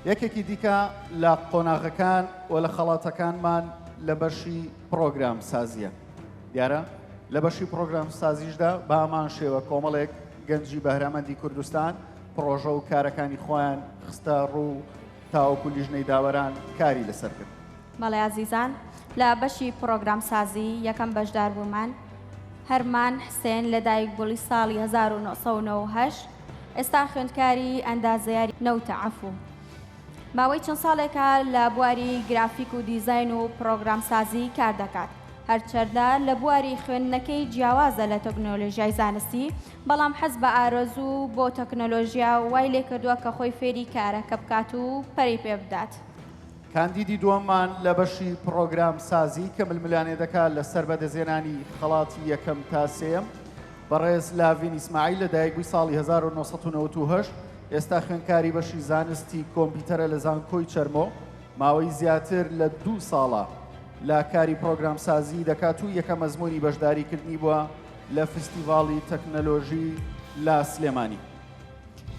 یەکێکی دیکە لە قۆناغەکان و لە خەڵاتەکانمان لە بەشی پرۆگرام سازیە دیارە لە بەشی پرۆگرام سازیشدا بامان شێوە کۆمەڵێک گەنجی بەهرەمەندی کوردستان پرۆژە و کارەکانی خۆیان خستە ڕوو تاوەکو لیژنەی داوەران کاری لەسەر کرد بەڵێ ئازیزان لە بەشی پرۆگرام سازی یەکەم بەشدار بوومان هەرمان حسێن لە دایک بوڵی ساڵی 1990 ئێستا خوێندکاری ئەندازیاری نەوتە عەفو ماوەی چەند ساڵێکە لە بواری گرافیک و دیزاین و پڕۆگرامسازی کار دەکات هەرچەردە لە بواری خوێندنەکەی جیاوازە لە تەکنۆلۆژیای زانستی بەڵام حەز بە ئارەزوو بۆ تەکنۆلۆژیا وای لێکردووە کە خۆی فێری کارەکە بکات و پەرەی پێ بدات. کاندیدی دووەممان لە بەشی پڕۆگرامسازی کە ململانێ دەکات لەسەر بەدەستهێنانی خەڵاتی یەکەم تا سێیەم، بەڕێز لاڤین ئیسماعیل لە دایک بووی ساڵی هەزار و نۆ سەد و نەوەد و هەشت، ئێستا خوێندکاری بەشی زانستی کۆمپیتەرە لە زانکۆی چەرمۆ، ماوەی زیاتر لە دوو ساڵە لە کاری پڕۆگرامسازی دەکات و یەکەم ئەزموونی بەشداری کردنی بووە لە فستیڤاڵی تەکنەلۆژی لە سلێمانی.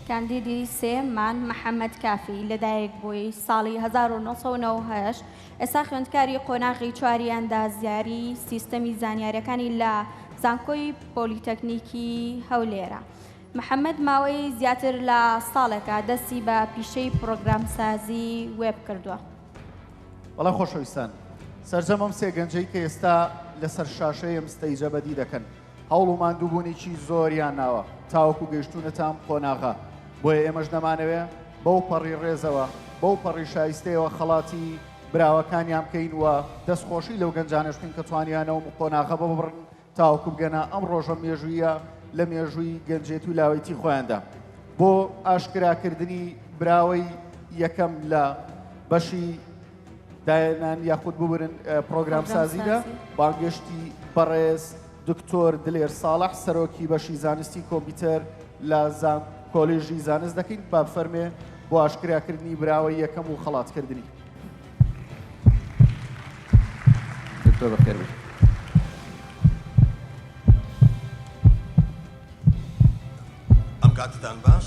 کاندیدی سێ، مان محەمەد کافی، لە دایک بووی ساڵی هەزار و نۆ سەد و نەوەد و هەشت، ئێستا خوێندکاری قۆناغی چواری ئەندازیاری سیستەمی زانیارەکانی لە زانکۆی پۆلیتەکنیکی هەولێرە. محەمەد ماوەی زیاتر لە ساڵێکە دەستی بە پیشەی پڕۆگرامسازی وێب کردووە. بەڵێ خۆشەویستان، سەرجەم ئەم سێ گەنجەی کە ئێستا لەسەر شاشەی ئەم ستەیجە بەدی دەکەن، هەوڵ و ماندووبوونیی زۆریان ناوە تاوەکو گەیشتوونەتە ئەم قۆناغە، بۆیە ئێمەش نەمانەوێ بەو پەڕی ڕێزەوە، بەو پەڕی شایستەیەوە خەڵاتی براوەکانیان بکەین و دەستخۆشی لەو گەنجانەش بکەین کە توانیویانە ئەو قۆناغە ببڕن تاوەکو بگەنە ئەم ڕۆژە مێژووییە لە مێژووی گەنجێتی و لاوێتی خۆیاندا. بۆ ئاشکراکردنی براوەی یەکەم لە بەشی داهێنان یاخود ببورن پڕۆگرامسازیدا، بانگێشتی بەڕێز دکتۆر دلێر ساڵح سەرۆکی بەشی زانستی کۆمپیوتەر لە زان کۆلیژی زانست دەکەین با بفەرمێ بۆ ئاشکراکردنی براوە یەکەم و خەڵاتکردنی. دکتۆر بەخێر بێی. ئەم کاتتان باش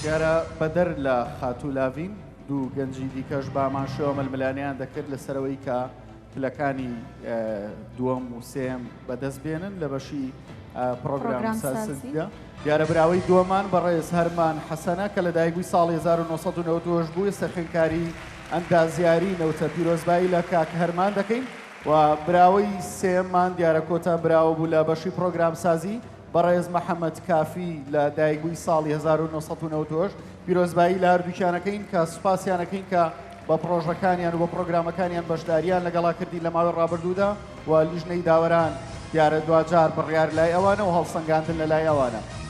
دیارە بەدەر لە خاتوو لاڤین، دوو گەنجی دیکەش بامانشێوە ململانێیان دەکرد لەسەرەوەی کە پلەکانی دووەم و سێیەم بەدەست بێنن لە بەشی پڕۆگرامسازیدا. دیارە براوەی دووەمان بەڕێز هەرمان حەسەنە کە لەدایکبووی ساڵی 1990 بوو، ئێستا خوێندکاری ئەندازیاری نەوتە. پیرۆزبایی لە کاک هەرمان دەکەین و براوەی سێیەممان دیارە کۆتا براوە بوو لە بەشی پڕۆگرامسازی، بەڕێز محەمەد کافی لە دایکبووی ساڵی هەزار و نۆ سەد و نەوەد و هەشت، پیرۆزبایی لە هەردووکیانەکەین کە سوپاسیانەکەین کە بە پڕۆژەکانیان و بە پڕۆگرامەکانیان بەشدارییان لەگەڵا کردین لە ماوەی ڕابردوودا و لیژنەی داوەران دیارە دواجار بڕیار لای ئەوانە و هەڵسەنگاندن لەلای ئەوانە.